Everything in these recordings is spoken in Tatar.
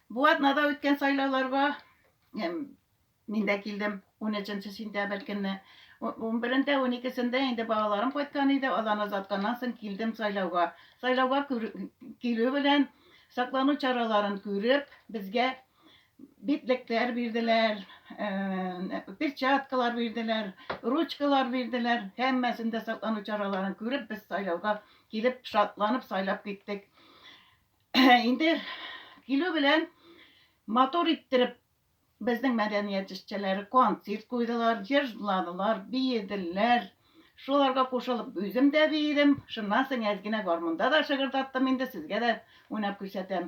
Бу атнада үткән сайлауларга мин дә килдем 13 сентябрь көнне. 11-дә, 12-сендә инде балаларым кайткан иде, аларны озатканнан соң килдем сайлауга. Сайлауга килү белән саклану чараларын күреп, безгә битлекләр бирделәр, э, перчаткалар бирделәр, ручкалар бирделәр. Һәммәсендә саклану чараларын күреп, без сайлауга килеп, шатланып сайлап киттек. Инде килү белән матур иттереп безнең мәдәният эшчәннәре концерт куйдылар, җыр җырладылар, биеделәр. Шуларга кушылып үзем дә биедем. Шуннан соң әз генә гармунда да шыгырдаттым инде, сезгә дә уйнап күрсәтәм.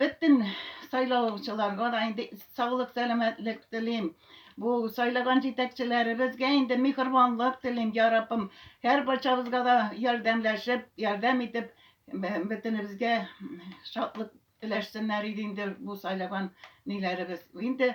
Бөтен сайлаучыларга да инде саулык, сәламәтлек телим. Бу сайлаган җитәкчеләребезгә инде михырбанлык телим, я Раббым. Һәр барчабызга да ярдәмләшеп, ярдәм итеп, бөтенебезгә шатлык теләшсеннәр иде инде бу сайлаган ниләребез. Инде